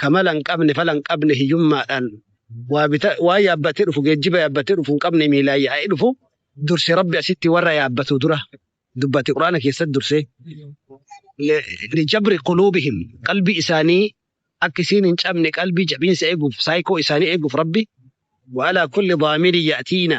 ka mala hin qabne, fala hin qabne, hiyyummaadhaan waa bita, waa yaabbatee dhufu, geejjiba yaabbatee dhufu hin qabne miilaan yaa'ee dhufu durse Rabbi asitti warra yaabbatu dura dubbate Qur'aana keessatti dursee. Lijabri quluubihim qalbii isaanii akka isiin hin cabne qalbii jabiinsa eeguuf saayikoo isaanii eeguuf Rabbi wa alaa kulli daamirin ya'tiina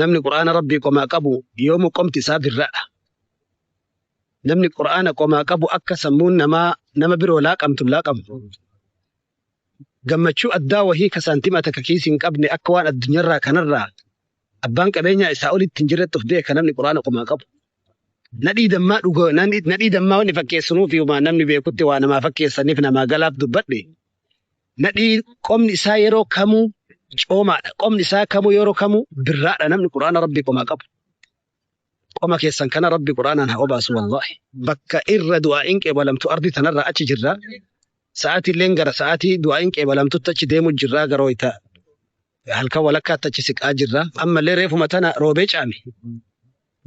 namni qur'aana rabbii qomaa qabu yoomu qomti isaa birradha namni qur'aana qomaa qabu akka sammuun namaa nama biroo laaqamtu hin laaqamtu gammachuu addaa wahii ka saantima takka kiisi hin qabne akka waan addunyaarraa kanarraa abbaan qabeenyaa isaa olitti hin jirretti of beeka namni qur'aana qomaa qabu nadhii dammaa dhuga nadhii dammaa wanni fakkeessinuuf yoomaa namni beekutti waa namaa fakkeessaniif namaa galaaf dubbadhe Nadhii qomni isaa yeroo kamuu coomaadha. Qomni isaa kamuu yeroo kamuu birraadha. Namni Qur'aana Rabbii qomaa qabu. Qoma keessan kana Rabbi Qur'aanaan haa obaasu wallaahi. Bakka irra du'aa'iin qeebalamtu ardi tanarraa achi jirra. Sa'aatii illeen gara sa'aatii du'aa'iin qeebalamtutti achi deemu jirra gara wayita halkan walakkaatti achi siqaa jirra. Ammallee reefuma tana roobee caame.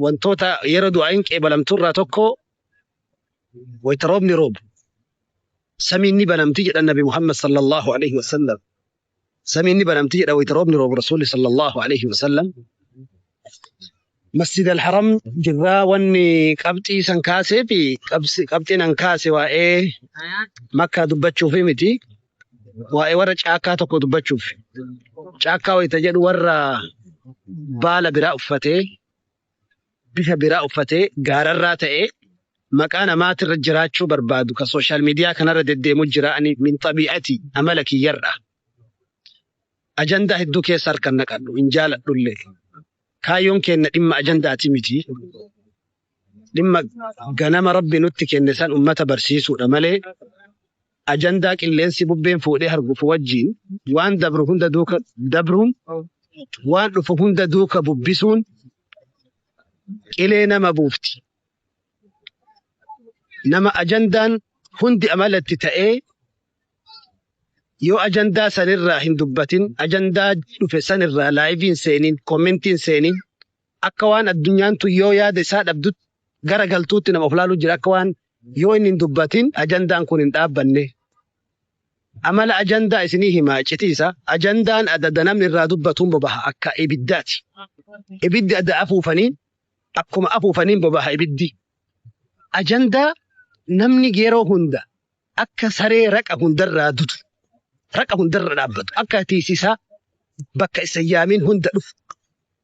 Wantoota yeroo du'aa'iin qeebalamturraa tokko wayita roobni roobu Samiin ni banamti jedhan Nabi Muhammad sallallahu aleyhi wa sallam. Samiin ni banamti jedha wayta roobni roobu Rasuulli sallallahu aleyhi wa sallam. Masjid al-Haram jirraa wanni qabxii san kaasee fi qabxiin an kaase waa'ee makkaa dubbachuuf miti. Waa'ee warra caakkaa tokko dubbachuuf. Caakkaa wayta jedhu warra baala biraa uffatee bifa biraa uffatee gaararraa ta'ee maqaa namaatirra jiraachuu barbaadu ka social media kanarra deddeemu jira ani min xabii'atii amala kiyyarra ajandaa hedduu keessa harkan naqadhu hin jaaladhulle kaayyoon keenna dhimma ajandaati miti dhimma ganama rabbi nutti kenne san ummata barsiisuudha malee ajandaa qilleensi bubbeen fuudhee hargufu wajjiin waan dabru hunda duuka dabruun waan dhufu hunda duuka bubbisuun qilee nama buufti. Nama ajandaan hundi amalatti ta'ee yoo ajandaa sanirraa hin dubbatin ajandaa dhufe sanirraa laayiviin seeniin koomentiin seeniin akka waan addunyaan tun yoo yaada isaa dhabdutti gara galtuutti nama of laaluu jira akka waan Yoo inni hin dubbatin ajandaan kun hin dhaabbanne. Amala ajandaa isinii hima iccitii isaa. Ajandaan ada ada namni irraa dubbatuun bobaha akka ibiddaati. Ibiddi ada afuufaniin akkuma afuufaniin bobaha ibiddi. Ajandaa namni yeroo hunda akka saree raqa hundarraa dutu, raqa hundarra dhaabbatu, akka tiisisaa bakka isa hin yaamiin hunda dhufu.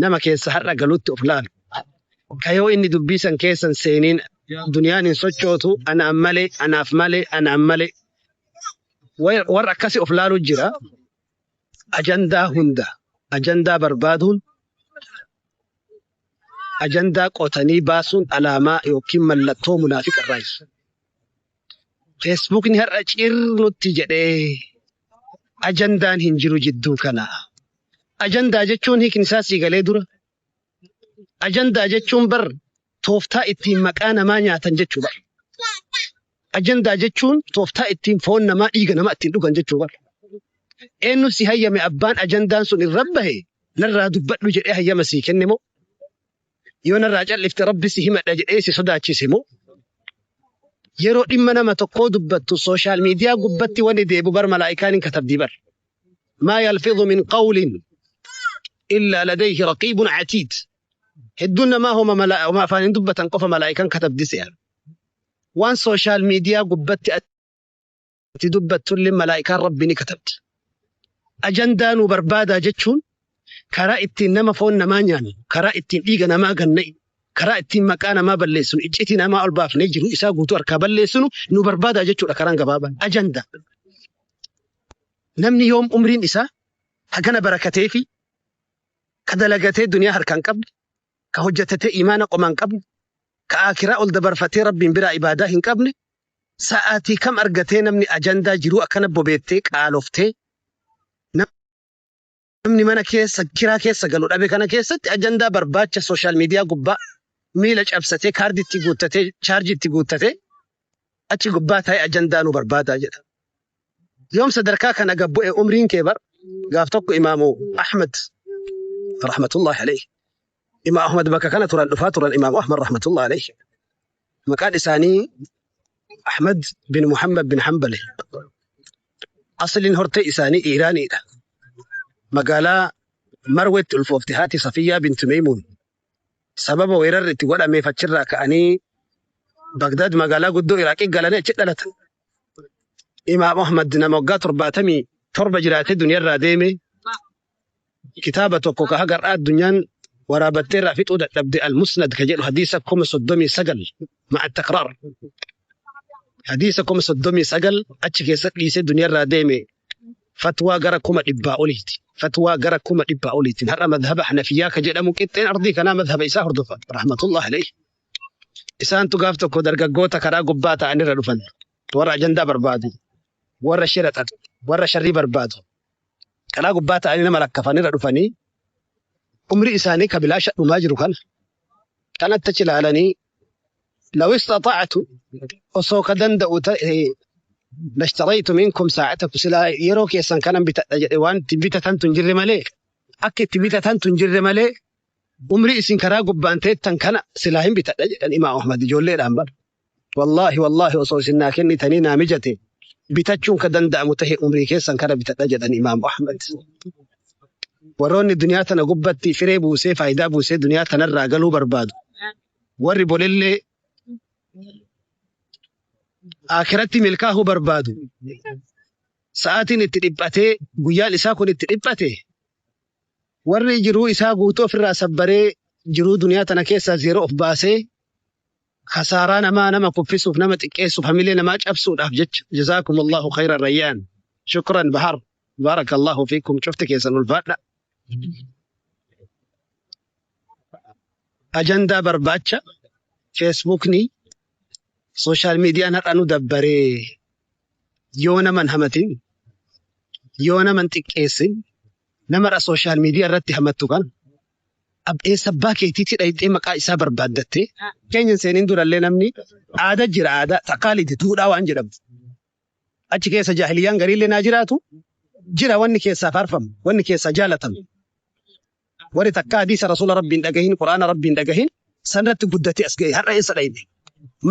Nama keessa har'a galutti of laalu. Ka yoo inni dubbii san keessa hin seeniin duniyaan hin sochootu, anaan malee, anaaf malee, anaan malee. Wa- Warra akkasi of laalu jira. Ajandaa hunda, ajandaa barbaaduun, ajandaa qotanii baasuun alaamaa yookiin mallattoo munaafiqa irraayi. Feesbuukni har'a ciir nutti jedhee ajandaan hin jiru jidduu kana. Ajandaa jechuun hiikni isaa sii galee dura. Ajandaa jechuun bar tooftaa ittiin maqaa namaa nyaatan jechuu bar. Ajandaa jechuun tooftaa ittiin foon namaa dhiiga namaa ittiin dhugan jechuu bar. Eenyu si hayyame abbaan ajandaan sun irra bahe narraa dubbadhu jedhee hayyama sii kenne moo? yoo narraa callifte rabbi si himadha jedhee si sodaachise moo yeroo dhimma nama tokkoo dubbattu sooshaal miidiyaa gubbatti wanni deebu bar malaa'ikaan hin katabdii bar maa yalfidhu min qawlin illaa ladayhi raqiibun catiid hedduun namaa homa mala- homa afaan hin dubbatan qofa malaa'ikaan katabdi se'a waan sooshaal miidiyaa gubbatti ati dubbattullee malaa'ikaan Rabbi ni katabdi. Ajandaa nu barbaadaa jechuun karaa ittiin nama foon namaa nyaannu, karaa ittiin dhiiga namaa ganna'e, karaa ittiin maqaa namaa balleessinu, iccitii namaa ol baafnee jiru isaa guutuu harkaa balleessinu nu barbaadaa jechuudha karaan gabaabaan. Ajandaa. Namni yoom umriin isaa hagana barakatee fi ka dalagatee duniyaa harkaan qabne, ka hojjetatee imaana qomaan qabne, ka aakiraa ol dabarfatee Rabbiin biraa ibaadaa hin qabne, Sa'aatii kam argatee namni ajandaa jiruu akkana bobeettee qaaloftee namni mana keessa kiraa keessa galu dhabe kana keessatti ajandaa barbaacha sooshaal miidiyaa gubbaa miila cabsatee kaardii itti guuttatee chaarjii itti guuttatee achi gubbaa taa'ee ajandaa nu barbaadaa jedha. Yoom sadarkaa kana gad bu'e umriin kee bar gaaf tokko imaamu Ahmad rahmatullahi alayhi. Imaam Ahmad bakka kana turan dhufaa turan imaamu Ahmad rahmatullahi alayhi. Maqaan isaanii Ahmad bin Muhammad bin Hanbali. Asliin hortee isaanii Iiraaniidha. Magaalaa Marweetti ulfoofte haati Safiyyaa binti Meeymuun. Sababa weerarri itti godhameef achirraa ka'anii Bagdaad magaalaa guddoo Iraaqii galanii achi dhalatan. Imaam Ahmad nama waggaa torbaatamii torba jiraatee duniyarraa deeme. kitaaba tokko ka haga har'aa addunyaan waraabattee irraa fixuu dadhabde al-musnad ka jedhu hadiisa kuma soddomii sagal ma'a taqraar hadiisa kuma soddomii sagal achi keessa dhiisee duniyarraa deeme fatwaa gara kuma dhibbaa oliiti fatwaa gara kuma dhibbaa oliitiin har'a madhaba hanafiyyaa ka jedhamu qixxeen ardii kanaa madhaba isaa hordofa rahmatullah alayhi isaantu gaaf tokko dargaggoota karaa gubbaa ta'anirra dhufan warra ajandaa barbaadu warra shira xaxu warra sharrii barbaadu karaa gubbaa ta'anii nama lakkafan irra dhufanii umrii isaanii ka bilaasha dhumaa jiru kana kanatti achi ilaalanii لو استطعت osoo ka danda'u ta'e lashtaraytu minkum saa'atakum silaa yeroo keessan kanan bitadha jedhe waan itti bitatantu hin jirre malee akka itti bitatantu hin jirre malee umrii isin karaa gubbaan teettan kana silaa hin bitadha jedhan imaam ahmad ijoolleedhaan bara Wallaahi wallaahi osoo isin naa kennitanii naa mijate bitachuun ka danda'amu tahe umrii keessan kana bitadha jedhan Imaamu Ahmad. Warroonni duniyaa tana gubbatti firee buusee faayidaa buusee duniyaa tanarraa galuu barbaadu warri bolillee aakiratti milkaahuu barbaadu sa'aatiin itti dhiphatee guyyaan isaa kun itti dhiphate warri jiruu isaa guutuu ofirraa sabbaree jiruu duniyaa tana keessaa zeeroo of baasee Kasaaraa namaa nama kuffisuuf nama xiqqeessuuf hamilee namaa cabsuudhaaf jecha jazaakumullaahu khayran rayyaan shukran bahar baarakallaahu fiikum cufti keessan ulfaadha ajandaa barbaacha feesbuukni sooshaal miidiyaan har'a nu dabbaree yoo naman hamatin yoo naman xiqqeessin namarra sooshaal miidiyaa irratti hamattu kan Eessa abbaa keetiitii dhayxee maqaa isaa barbaaddattee keenya hin seenin durallee namni aada jira aadaa taqaalidi duudhaa waan jedhamtu achi keessa jaahiliyyaan gariillee naa jiraatu jira wanni keessaa faarfamu wanni keessaa jaalatamu warri takka hadiisa rasuula rabbiin dhagahin quraana rabbiin dhagahin sanirratti guddatee as ga'e har'a eessa dhayne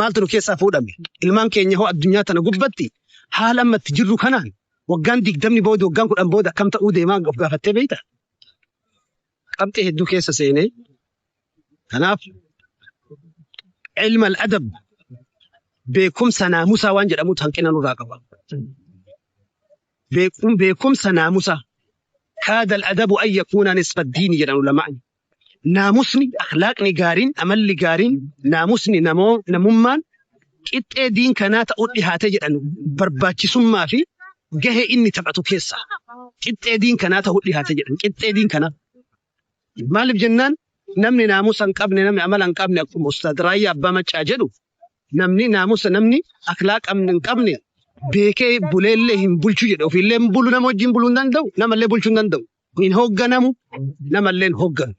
maaltu nu keessaa fuudhame ilmaan keenya hoo addunyaa tana gubbatti haala ammatti jirru kanaan waggaan digdamni booda waggaan kudhan booda akkam ta'uu deemaa of gaafattee beekta qabxii hedduu keessa seene. Kanaaf ilmal adab beekumsa naamusaa waan jedhamutu hanqina nurraa qaba. Beekum beekumsa naamusaa kaadal adabu an yakuuna nisfa diini jedhan ulamaan. Naamusni, akhlaaqni gaariin, amalli gaariin, naamusni namoo namummaan qixxee diin kanaa ta'uun dhihaate jedhan barbaachisummaa fi gahee inni taphatu keessaa qixxee diin kanaa ta'uu dhihaate jedhan qixxee diin kanaa maaliif jennaan namni naamusa hin qabne namni amala hin qabne akkuma ustaad raayyaa abbaa maccaa jedhu namni naamusa namni akhlaa qabne hin qabne beekee buleellee hin bulchu jedhe ofiillee hin bulu nama wajjin buluu hin danda'u namallee bulchuu hin danda'u hin hoogganamu, namallee hin hoogganu.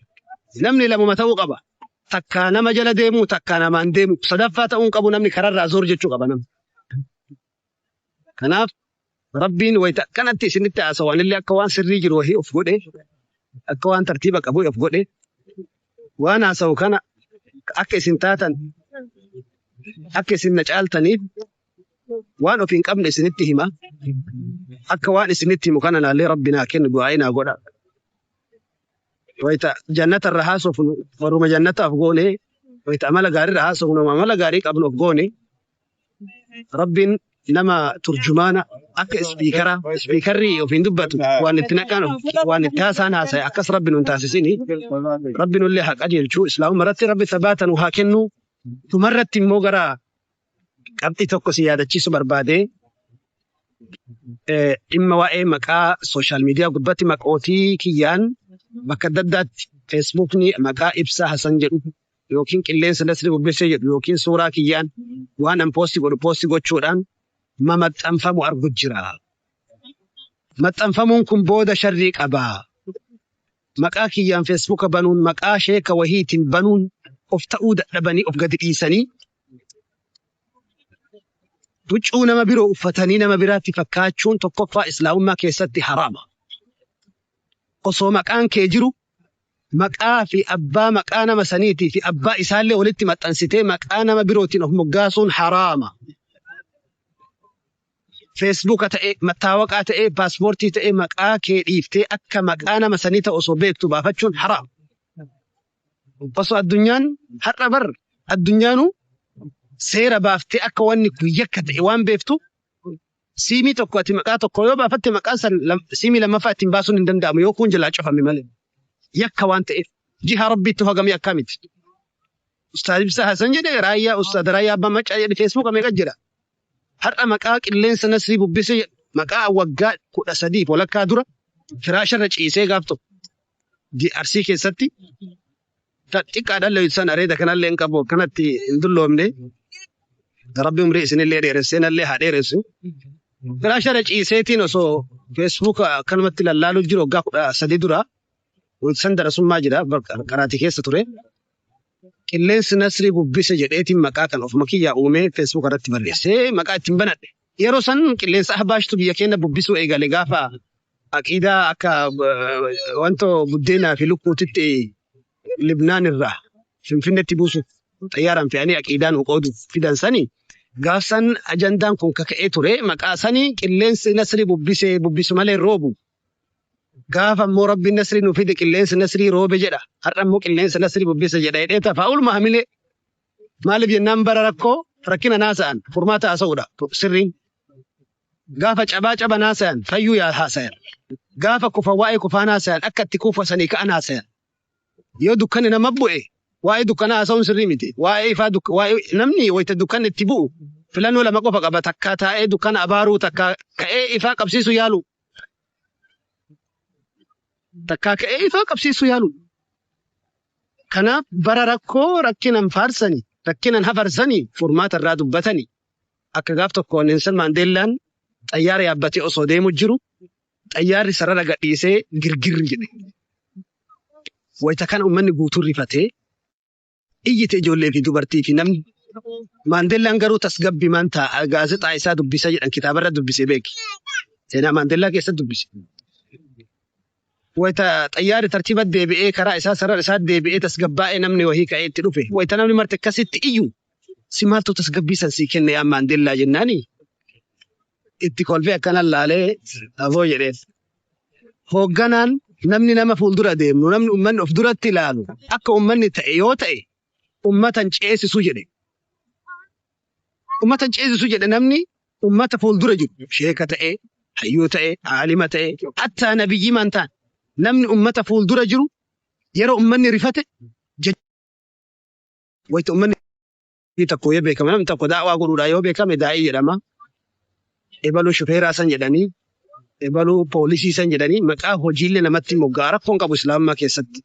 Namni lamuma ta'uu qaba. Takkaa nama jala deemu, takkaa namaan deemu. Sadaffaa ta'uu hin qabu namni kararraa zoor jechuu qaba namni. Kanaaf Rabbiin wayita akkanatti isinitti haasawanillee akka waan sirrii jiru wahii of godhe, akka waan tartiiba qabu of godhe, waan haasawu kana akka isin taatan, akka isin na caaltaniif waan of hin qabne isinitti hima akka waan isinitti himu kana naallee rabbi naa kennu du'aa'ii naa godha wayita jannata irra haasofnu warruma jannataaf goone wayita amala gaarii irra haasofnu amala gaarii qabnu of goone rabbiin nama turjumaana akka ispiikara ispiikarri ofiin dubbatu waan itti naqaan waan itti haasaan haasa'e akkas rabbi nun taasisini rabbi nullee haa qajeelchu islaamuma irratti rabbi sabaata nu haa kennu tumarratti immoo gara qabxii tokko si yaadachiisu barbaade dhimma waa'ee maqaa sooshaal miidiyaa gubbatti maqootii kiyyaan bakka adda addaatti feesbuukni maqaa ibsaa hasan jedhu yookiin qilleensa nasri bubbisee jedhu yookiin suuraa kiyyaan waan an poosti godhu poosti gochuudhaan mamaxxanfamu argu jira. Maxxanfamuun kun booda sharrii qaba. Maqaa kiyyaan feesbuuka banuun maqaa sheeka wahiitiin banuun of ta'uu dadhabanii of gadi dhiisanii Huccuu nama biroo uffatanii nama biraatti fakkaachuun tokkoffaa islaamummaa keessatti haraama. Osoo maqaan kee jiru maqaa fi abbaa maqaa nama saniitii fi abbaa isaallee walitti maxxansitee maqaa nama birootiin of moggaasuun haraama. Feesbuuka ta'ee, mattaawaqaa ta'ee, paaspoortii ta'ee maqaa kee dhiiftee akka maqaa nama sanii ta'u osoo beektu baafachuun haraama. Osoo addunyaan har'a bar addunyaanu seera baaftee akka wanni kun yakka ta'e waan beektu siimii tokko ati maqaa tokko yoo baafatte maqaan san siimii lammaffaa ittiin baasuun hin danda'amu yoo kuun jalaa cufame malee yakka waan ta'eef jiha rabbiitti hogamee akkaa miti. Ustaaz Ibsaa Hasan jedhe raayyaa ustaaz raayyaa abbaa maccaa jedhe feesbuuka meeqa jira. Har'a maqaa qilleensa Nasrii bubbise jedhu maqaa waggaa 13 fi walakkaa dura firaasha irra ciisee gaaf tokko di Arsii keessatti kan xiqqaadhaan leeysan areeda kanallee hin qabu akkanatti hin dulloomne rabbi umrii isinillee dheeressee nallee haa dheeressu firaasha irra ciiseetiin osoo feesbuuka akkanumatti lallaaluu jiru waggaa 13 dura san darasummaa jira qaraatii keessa ture Qilleensi Nasrii bubbise jedheetiin maqaa kan ofuma kiyyaa uumee Facebook irratti barreessee maqaa ittiin banadhe. Yeroo san qilleensa Ahbaashtu biyya keenya bubbisuu eegale gaafa aqiidaa akka wantoo buddeenaa fi lukkuutitti Libnaan irraa Finfinnetti buusuuf xayyaaraan fe'anii aqiidaa nuu qooduuf fidan sani gaaf san ajandaan kun kaka'ee ture maqaa sani qilleensi Nasrii bubbise bubbisu malee roobu Gaafa ammoo Rabbiin nasrii nu fide qilleensi nasrii roobe jedha. Har'a ammoo qilleensa nasrii bubbise jedha jedhee tafa. Ooluma hamilee. Maaliif jennaan bara rakkoo rakkina naasa'an furmaata haasa'uudha sirriin. Gaafa cabaa caba naasa'an fayyuu yaa haasayan. Gaafa kufa waa'ee kufaa naasa'an akka itti kuufasanii ka'an haasayan. Yoo dukkanni nama bu'e waa'ee dukkana haasa'uun sirrii miti. Waa'ee ifaa duk- waa'ee namni wayita dukkanni itti bu'u filannoo lama qofa qaba takkaa taa'ee dukkana abaaruu takkaa ka'ee ifaa qabsiisu yaalu. takkaa ka'ee ifaa qabsiisuu yaaluudha. Kanaaf bara rakkoo rakkinan faarsani, rakkinan hafarsani furmaata irraa dubbatani. Akka gaaf tokko Nelson Maandeellaan xayyaara yaabbatee osoo deemu jiru xayyaarri sarara gadhiisee girgirri jedhe. Wayita kana uummanni guutuu rifatee iyyite ijoollee fi dubartii fi namni. Maandeellaan garuu tasgabbimaan taa'a gaazexaa isaa dubbisa jedhan kitaabarra dubbise beeki. Seenaa Maandeellaa keessa dubbise. Wayita xayyaarri tartiiba deebi'ee karaa isaa sarara isaa deebi'ee tasgabbaa'ee namni wahii ka'ee itti dhufe. Wayita namni marti akkasitti iyyu si maaltu tasgabbii san sii kenne yaa Maandeellaa jennaani. itti kolfee akkanan laalee aboo jedheen. Hoogganaan namni nama fuuldura deemnu namni ummanni of duratti ilaalu akka ummanni ta'e yoo ta'e ummatan ceesisu jedhe. Ummatan ceesisu jedhe namni ummata fuuldura jiru sheeka ta'e, hayyuu ta'e, aalima ta'e, hattaa nabiyyii man ta'an namni ummata fuuldura jiru yeroo ummanni rifate jecha wayita ummanni Namni tokko yoo beekame, namni tokko daawaa godhuudhaan yoo beekame daa'ii jedhama. Ebaluu shufeeraa san jedhanii, ebaluu poolisii san jedhanii maqaa hojiillee namatti mogga'a. Rakkoon qabu Islaamummaa keessatti.